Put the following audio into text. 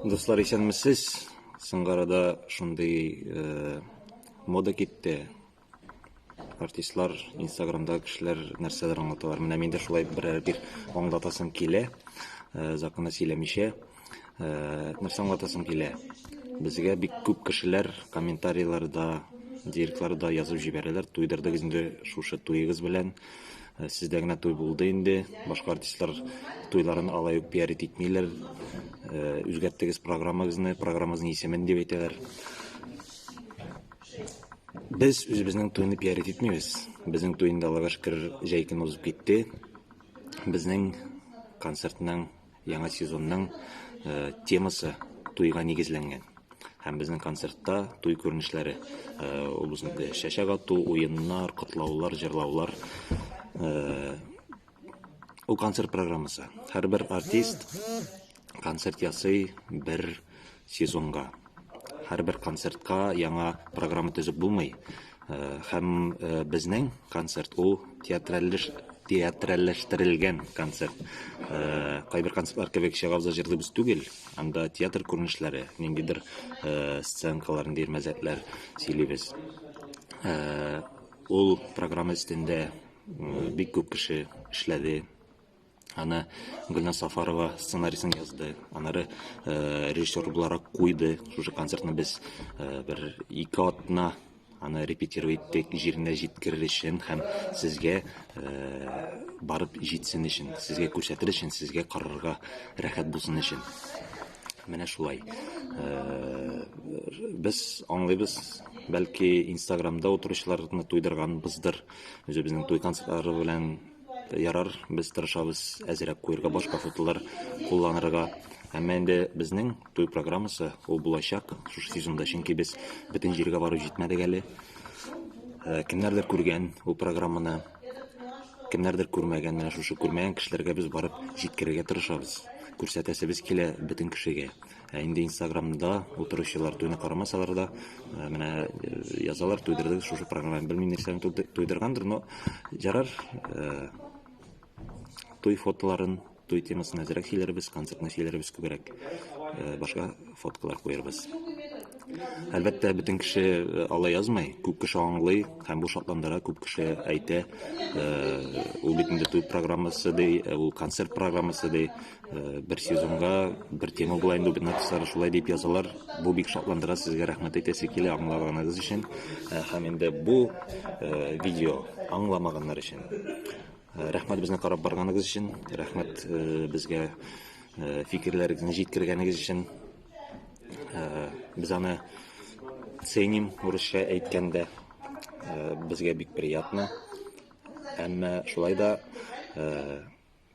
Дуслар, исәнмесез. Сынгарада шундый э, мода китте. Артистлар Инстаграмда кешеләр нәрсәләр аңлаталар. Менә мин дә шулай берәр бер аңлатасым килә. Э, законы сөйләмичә э, нәрсә аңлатасым килә. Безгә бик күп кешеләр комментарийларда, директларда язып җибәрәләр. Туйдырдыгыз инде шушы туегыз белән. Э, сездә генә туй булды инде башка артистлар туйларын алай ук пиарить итмиләр э, үзгәрттегез программагызны программагызның исемен дип әйтәләр без үзебезнең туйны пиарить итмибез безнең туй инде аллага шөкер җәй көне узып китте безнең концертның Яңа сезонның темасы туйга нигезләнгән. Һәм безнең концертта туй күренешләре ул безнең чәчәк ату, уеннар, котлаулар, җырлаулар ул концерт программасы. Һәрбер артист концерт ясый, бер сезонга. Һәрбер концертка яңа программа төзеп булмый. Һәм безнең концерт ул театральләштерелгән концерт. Кайбер концертлар кебек чыгабыз да җырлыйбыз түгел. Анда театр күренешләре, ниндидер сценкалар, ниндидер мәзәкләр сөйлибез. Ул программа өстендә бик күп кеше эшләде. Аны Гөлназ Сафарова сценарийсын язды. Анары э, режиссер буларак куйды. Шушы концертны без э, бер ике атна аны репетировать иттек җиренә җиткерер өчен һәм сезгә э, барып җитсен өчен сезгә күрсәтер өчен сезгә карарга рәхәт булсын өчен менә шулай э, без аңлыйбыз бәлки инстаграмда утыручыларны туйдырганбыздыр үзебезнең туй концертлары белән Ярар, без тырышабыз әзерәк куерга башка фотолар кулланырга. Әмма инде безнең туй программасы ул булачак шушы сезонда, чөнки без бөтен җиргә барып җитмәдек әле. Э, кемнәрдер күргән ул программаны, кемнәрдер күрмәгән, менә шушы күрмәгән кешеләргә без барып җиткерергә тырышабыз. Күрсәтәсебез килә бөтен кешегә. Ә инде инстаграмда утыручылар туйны карамасалар да, э, менә э, язалар, туйдырдыгыз шушы программаны. Белмим, нәрсәне туйды- туйдыргандыр, но ярар, э, туй фотоларын, туй темасын әзрәк сөйләрбез, концертны сөйләрбез күбрәк, э, башка фоткалар куярбыз. Әлбәттә, бөтен кеше э, ала язмый, күп кеше аңлый һәм бу шатландыра, күп кеше әйтә, э, ул бит инде туй программасы ди, э, ул концерт программасы ди, Э, бер сезонга бер тема була инде бит написары шулай дип язалар бу бик шатландыра сезгә рәхмәт әйтәсе килә аңлаганыгыз өчен э, һәм инде бу э, видео аңламаганнар өчен рәхмәт безне карап барганыгыз өчен рәхмәт безгә фикерләрегезне җиткергәнегез өчен без аны ценим урысча әйткәндә безгә бик приятно әмма шулай да